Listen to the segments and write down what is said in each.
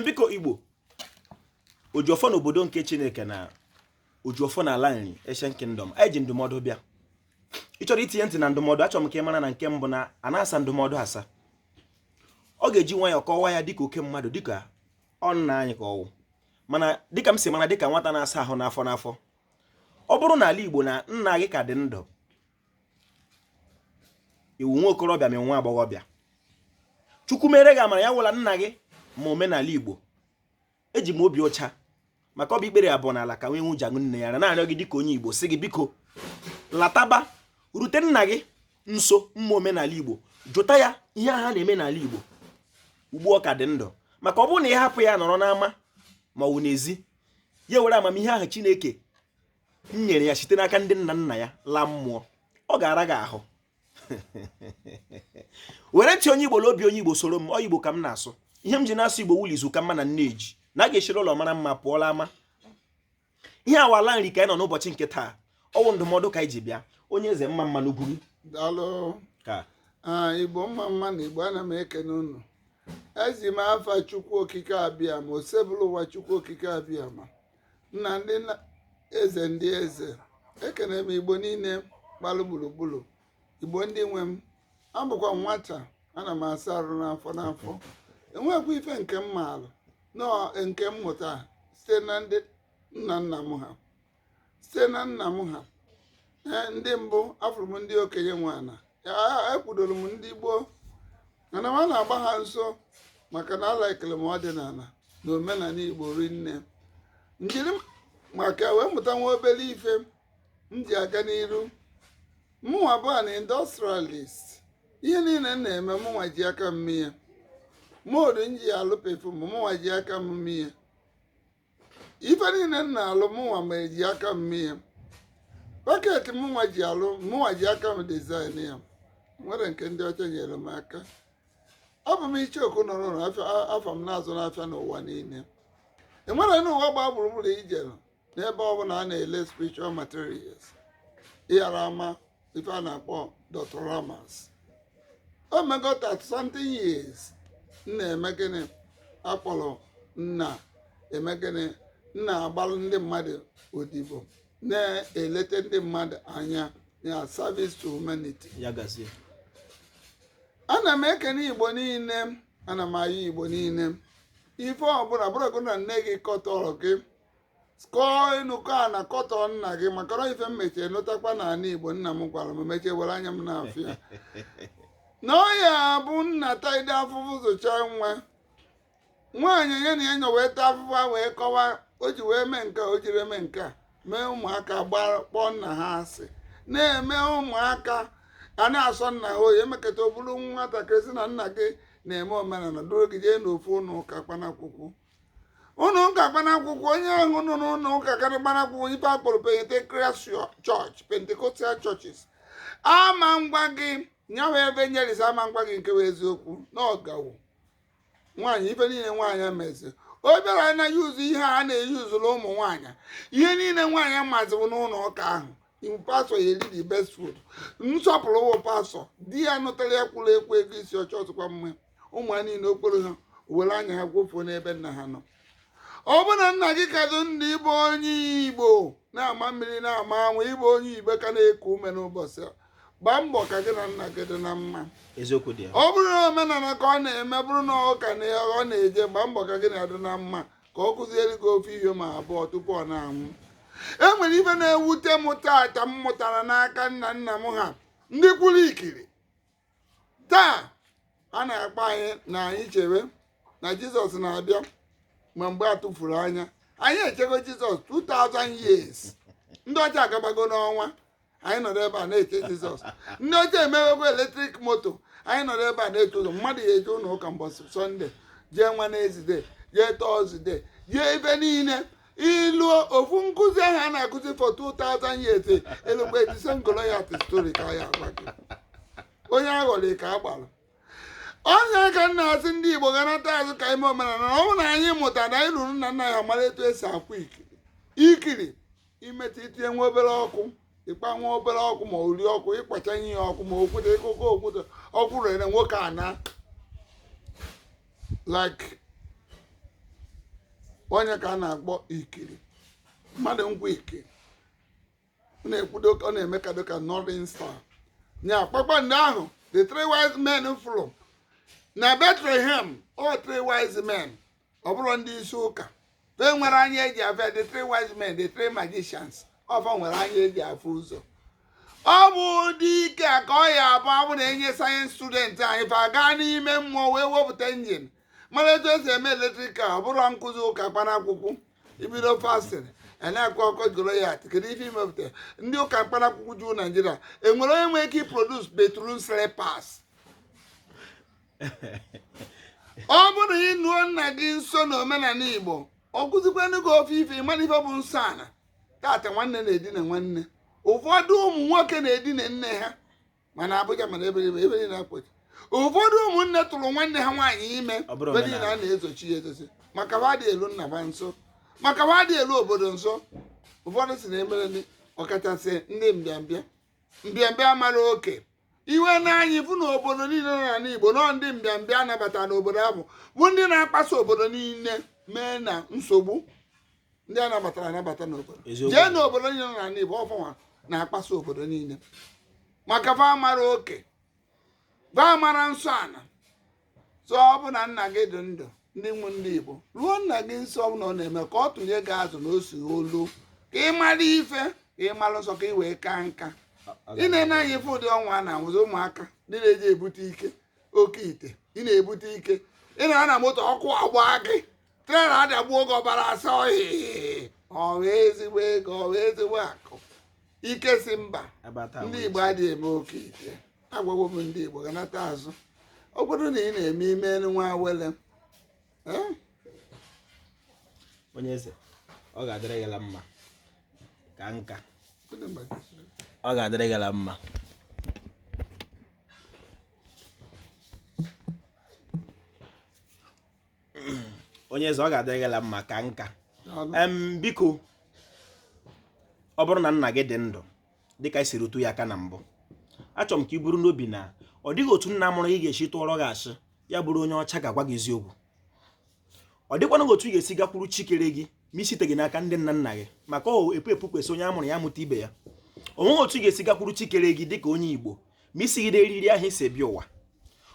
biko igbo ojiọfọ na obodo nke chineke na ojiọfọ na ala nri Ancient Kingdom anyị ji ndụmọdụ bịa ị chọrọ itinye ntị na ndụmọdụ achọrọ m ka ị mara na nke mbụ na a na-asa ndụmọdụ asa ọ ga-eji nwayọ kọwaa ya dịka oke mmadụ dịka ọ nna anyị ka ọ wụ mana dịka m si mara dịka nwata na-asa ahụ n'afọ n'afọ ọ bụrụ na ala igbo na nna gị ka dị ndụ ị wụ nwa okorobịa ma nwa agbọghọbịa chukwu mere gị amara ya wụ la nna gị ma omenala igbo eji m obi ọcha maka ọ bụ ikpere abụọ n'ala ka nwee nwuja nne ya na na-arịọ gị dịka onye igbo sị gị biko lataba rute nna gị nso ma omenala igbo jụta ya ihe ha na-eme n'ala igbo ugbu ọ ka dị ndụ maka ọ bụrụ na ị hapụ ya nọrọ n'ama ma ọ bụ n'ezi ya were amamihe ahụ chineke nyere ya site n'aka ndị nna nna ya laa mmụọ ọ ga-ara gị ahụ were ntị onye igbo na obi onye igbo soro m ọ igbo ka m na-asụ ihe m ji na-asụ igbo wụ la izu ka mma na nneji na a ga-eshiri ụlọ mara mma pụọ la ama ihe a wụ ala nri ka anyị nọ n'ụbọchị nke taa ọ wụ ndụmọdụ ka anyị ji bịa onye eze mma mma n'ugwuru ka ah, igbo mma mma nụ igbo ana m ekene unu eji m afa chukwu okike abịama osebụlụwa chukwu okike abịama nna ndị nna eze ndị eze ekene m igbo niile gbalụ gburugburu igbo ndị nwe m abụkwa m nwata ana m asa arụ n'afọ n'afọ enwekwa ife nke m maalụ na ọ nke m mụta site na ndị nna nna m ha site na nna m ha ee ndị mbụ afụrụ m ndị okenye nwa na ekwudoro m ndị gboo mana m na-agba ha nso maka na alaikele m ọdịnala na omenala igbo rinne m jiri maka wee mụta nwa obere ife m ji aga n'iru mụnwa bụ an industrialist ihe niile m na-eme mụnwa ji aka m mee ya mould m ji alụ perfume mụnwa ji aka m mee ya ife niile m na-alụ mụnwa ji aka m mee ya packet mụnwa ji alụ mụnwa ji aka m design ya nwerọ nke ndị ọcha nyere m aka abụ m icheoku na nri afa m na-azụ n'afịa n'ụwa niile e nwere n'ụwa gbaa gburugburu i jere n'ebe ọ bụla a na-ele spiritual materials ị ghara ama ife a na-akpọ Dr. Ramas o mego 30 something years m na-eme gịnị akpọrọ m na-eme gịnị m na-agbalụ ndị mmadụ odibo na-elete ndị mmadụ anya na service to humanity ya gazie ana m ekene igbo niile ana m ayọ igbo niile ife ọbụla bụrụgo na nne gị kọtọrọ gị kọọ enu kọọ ana kọtọọ nna gị maka na ife m mechie nụtakwa na ana igbo nna m gwara m mechie were anya m na-afụ ya na ọ ya bụ nna taide afụfụ zụcha nwa nwaanyị onye na enyo wee taa afụfụ a wee kọwa o ji wee mee nke a, o jiri mee nke a mee ụmụaka gbara kpọọ nna ha asị na-eme ụmụaka a na-asọ nna ha oyi emekata ọ bụrụ nwatakịrị sị na nna gị na-eme omenala duru gị jee n'ofu ụlọ ụka kpanakwụkwụ ụnọ ụka kpanakwụkwụ onye ahụ nọ n'ụlọ ụka karị kpanakwụkwụ ife a kpọrọ Pentecostal church Pentecostal churches ama ngwa gị nyawa evangelist ama ngwa gị nke bụ eziokwu na ọgawo nwaanyị ife niile nwaanyị mezi ọ bịara na yuzu ihe a na-eyuzuru ụmụ nwaanyị ihe niile nwaanyị mazi bụ n'ụlọ ụka ahụ ọ wụ pastọ ya eri the best food nsọpụrụ wụ pastọ di ya nụtara ya kwuru ekwu ego isi ọchọ ọtụkwa mma ụmụ ha niile ọ kpọrọ ha were anya ha gwofuo n'ebe nna ha nọ ọ bụ na nna gị ka dị ndụ ị bụ onye igbo na-ama mmiri na-ama anwụ ị bụ onye igbo ka na-eku ume n'ụbọchị a gbaa mbọ ka gị na nna gị dị na mma eziokwu dị ya ọ bụrụ na omenala ka ọ na-eme bụrụ na ụka ka ọ na-eje gbaa mbọ ka gị na ya dị na mma ka ọ kụziere gị ofu ihe ma abụọ tupu ọ na-anwụ e nwere ife na-ewute m taata m mụtara n'aka nna nna m ha ndị kwụrụ ikiri taa a na-agwa anyị na anyị chewe na jizọs na-abịa ma mgbe a tụfuru anya anyị echego jizọs 2000 years ndị ọcha agabago n'ọnwa anyị nọrọ ebe a na-eche jizọs ndị ọcha emewego eletrik moto anyị nọrọ ebe a na-eche jizọs mmadụ ya eje ụlọ ụka mbọchị sọnde jee wenezde jee tọzde jee ebe niile ịnụ ofu nkụzi ahụ a na-akụzi for 2000 years e lukwe David and Goliath story ka a ya agwa gị onye aghọrị ka a gbara ọ nya ka m na-asị ndị igbo ga nata azụ ka e mee omenala na ọ bụrụ na anyị mụta na anyị ruru nna nna ya mara etu esi akwụ ikiri ikiri imetụ itinye nwa obere ọkụ ịkpa nwa obere ọkụ ma ori ọkụ ịkpacha ihe ọkụ ma okwute ịkụkọ okwute ọkụ rere nwoke a na like onye ka a na-akpọ ikiri mmadụ ngwa ikiri ọ na-ekwudo ọ na-eme ka dịka northern star nya kpakpando ahụ the three wise men fụrụ na Bethlehem ọ three wise men ọ bụrọ ndị isi ụka e nwere anya eji afụ ya the three wise men the three magicians ọ fa nwere anya eji afụ ụzọ ọ bụ ụdị ike a ka ọ ya abụ ọ bụ na e nye science student anyị fa gaa n'ime mmụọ wee wepụta injin mara etu esi eme electrical ọ bụrọ nkụzi ụka kpanakwụkwụ ibido fasting na akụkọ Goliath kedu ife imepụta ndị ụka mkpanakwụkwụ juu naijiria enwere onye nwere ike iproduce bathroom slippers ọ bụrụ na i luo nna gị nso na omenala igbo ọ kuzikwanụ gị ofu ife ị mara ife bụ nsọ ana tata nwanne na-edina nwanne ụfọdụ ụmụ nwoke na-edina nne ha ma na abuja ma na ebe niile- ebe niile akpọchi ụfọdụ ụmụnne tụrụ nwanne ha nwaanyị ime Ọ bụrụ ebe niile a na-ezochi ya ezochi maka ha adị elu nna ha nso maka ha adị elu obodo nso ụfọdụ si na emere ndị ọkachasị ndị mbịambịa mbịambịa amarọ oke i wee ne anya ị fụ na obodo niile nọ n'ala igbo na ọ ndị mbịambịa anabata n'obodo ahụ bụ ndị na-akpasu obodo niile mee na nsogbu ndị a nabatara anabata n'obodo Eziokwu. jee n'obodo niile nọ n'ala igbo ọ fanwa na-akpasu obodo niile maka fa amarọ oke fa amarọ nsọ ana so ọ bụ na nna gị dị ndụ ndị nwe ndị igbo ruo nna gị nso ọ na ọ na-eme ka ọ tụnye gị azụ na osi olu ka ị mara ife ka ị mara nsọ ka ị wee kaa nka ị na-ene anya ị fụ ụdị ọnwụ a na-anwụzi ụmụaka ndị na-eji ebute ike oke ite ị na-ebute ike ị nọ na moto ọkụ agba gị trela adagbuo gị ọbara asa ọhịa ọ wụ ezigbo ego ọ wụ ezigbo akụ ike si mba ndị igbo adịghị eme oke ite agwawo m ndị Igbo ganata azụ ọ bụrụ na ị na-eme i melu nwa awele eh? onye eze ọ ga-adịrị gị mma kaa nka ọ ga-adịrị gị mma onye eze ọ ga-adịrị gị mma kaa nka biko ọ bụrụ na nna gị dị ndụ dịka anyị si rụtụ ya aka na mbụ achọrọ m ka ị buru n'obi na ọ dịghị otu nna mụrụ gị ga-esi tụọrọ gị asị ya bụrụ onye ọcha ga-agwa gị eziokwu ọ dịkwana otu ị ga-esi gakwuru chi kere gị ma i siteghị n'aka ndị nna nna gị maka ọ epu epu kwesị onye a mụrụ ya mụta ibe ya o nweghị otu ị ga-esi gakwuru chi kere gị dịka onye igbo ma i sighị n'eriri ahụ i si bịa ụwa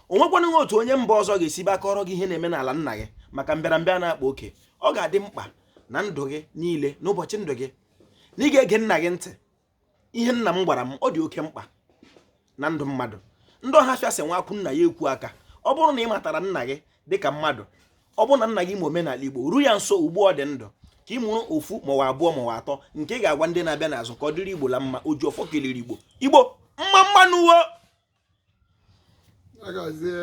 o nwekwana otu onye mba ọzọ ga-esi bịa kọọrọ gị ihe na-eme n'ala nna gị maka mbịarambịa na-akpa oke ọ ga-adị mkpa na ndụ gị niile n'ụbọchị ndụ gị na ị ga-ege nna gị ntị ihe nna m gwara m ọ dị oke mkpa na ndụ mmadụ ndị ọhafịa sị nwa kwụ nna ya ekwu aka ọ bụrụ na ị matara nna gị dịka mmadụ ọ bụrụ na nna gị ma omenala igbo ru ya nso ugbu ọ dị ndụ ka ị mụrụ ofu ma ọ wụ abụọ ma ọ wụ atọ nke ị ga-agwa ndị na-abịa n'azụ ka ọ dịrị igbo la mma oji ọfọ kelere igbo igbo mma mma nụ wo